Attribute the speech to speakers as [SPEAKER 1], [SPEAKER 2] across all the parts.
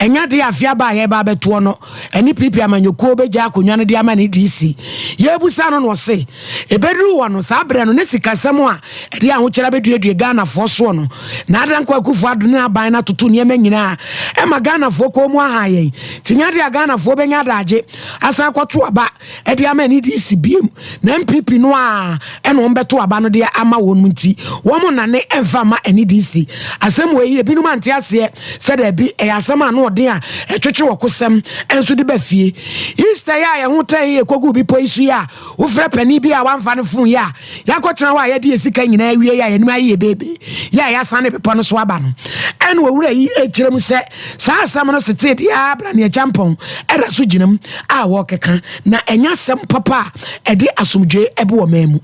[SPEAKER 1] Ɛnyɛ adeɛ a afe aba a yɛreba abɛtoɔ no ɛne PP amanyɔkuo bɛgya akonnwa no de ama ne DC. Yɛrebisa no na ɔse ɛbɛduru hɔ no, saa berɛ no ne sikasɛm a ɛde ahokyere abɛduadua Ghanafoɔ soɔ no na Dankwa Akufo-Addo ne n'aban no atoto nneɛma nyinaa ɛma Ghanafoɔ kɔn mu ahaa yɛn. Nti nyɛ adeɛ a Ghanafoɔ bɛnya adagye asan akɔto aba. de ama NDC biem na NPP no a ɛna wɔn bɛto aba no deɛ ama wɔn nti wɔn nnane mfa ma NDC asɛm wɔ yi ebinom ante aseɛ sɛ daabi ɛyɛ asɛm ano ɔden a ɛtwetwe wɔ kosɛm nso de ba fie Easter yɛ a yɛn ho tɛn yɛ kogu bepɔ yi so yɛ a wofrɛ panin bi a wamfa ne fon yɛ a yɛakɔtena hɔ a yɛde yɛ sika nyinaa awie yɛ a yɛnim ayɛ yɛ beebe yɛ a yɛasan ne bepɔ no so aba no ɛna owura yi ɛkyerɛ mu sɛ Saa asɛm no setee de ara bra nea Jampong da so gyinam a wɔkeka, na ɛnyɛ asɛm papa a ɛde asomdwoe ba ɔman mu.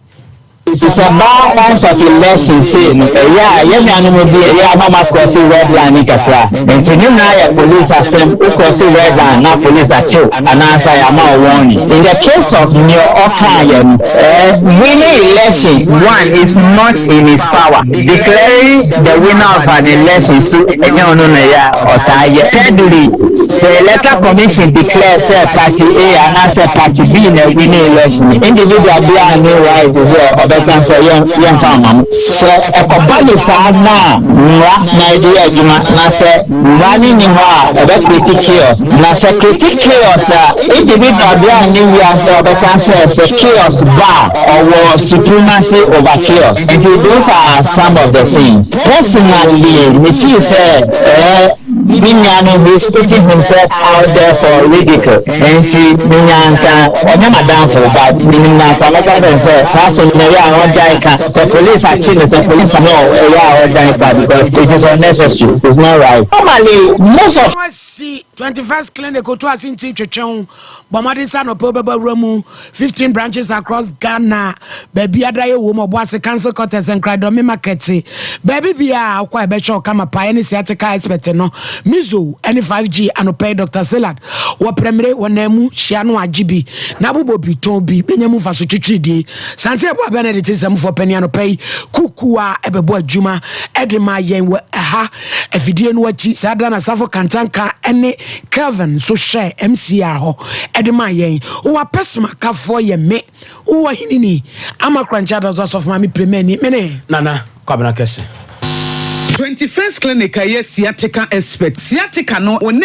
[SPEAKER 2] Nsesabaa Nyansafi Lawson sei no ɛyɛ a yɛ nuanom bi ɛyɛ a na ɔmo akrɔse red line no kakra nti ne nyinaa yɛ police asɛm wo krɔse red line na police akyew anaa sa yɛ ama wo warning in the case of nea ɔkaa yɛ no ɛɛ winning election one is not in his power. Declaring the winner of an election so ɛnyɛ ɔno na ɛyɛ a ɔtaa yɛ. Thirdly, sɛ electoral commission declare sɛ party A anaasɛ party B na ɛwini election no, individual biara nni right sɛ ɔbɛka sɛ yɛn yɛmfa mma mo. Sɛ ɛkɔba no saa na mmara na ɛde yɛ adwuma na sɛ Mmara no nni hɔ a ɛbɛkreti Chaos, na sɛ ɛkreti Chaos a, edi bi ba bere a nnɛ wiase a wɔbɛka sɛ sɛ Chaos ba a, ɔwɔ supremacy over Chaos. Enti those are some of the things. Personally, me feel sɛ ɛɛ me nua no he is putting himself out there for ridicule, enti me nua anka ɔnyɛ m'adamfo but menim no anka mɛka kyerɛ no sɛ saa asɛm no ɛyɛ a ɔngyae ka. sɛ police akye no sɛ police no ɛyɛ a ɔdan pa because it is unnecessary it is not right normally most of. wɔasi twenty first
[SPEAKER 1] clinic otu ase nti twetwe ho bɔ mmɔden sɛ anɔpɛ wobɛba wura mu fifteen branches across ghana baabi ada yɛ wom ɔbo ase council quarters nkradɔme market baabi biara wokɔ a ɛbɛhwɛ ɔkama paa ɛne sciatica expert no mizo ɛne 5g anɔpɛ yi dr salad wɔ prɛmire wɔ nan mu hyia no agye bi na bobɔ bi tɔn bi bɛnya mu mfaso twitwiridie Sante Abua Benedict nsɛmfo panyin anɔpa yi kuku a ɛbɛbɔ adwuma de ma yɛn wɔ ɛha afidie no akyi saa da na Safo Kantanka ne Kelvin nso hyɛ MCR hɔ de ma yɛn wɔ apɛsoma kafoɔ yɛ me wɔ henini ama korankyɛ adɔso asɔfo maame premani me ne Nana Kwabena Kɛse. 21st
[SPEAKER 3] Clinic a ɛyɛ sciatica expert. Sciatica no, wo nurse.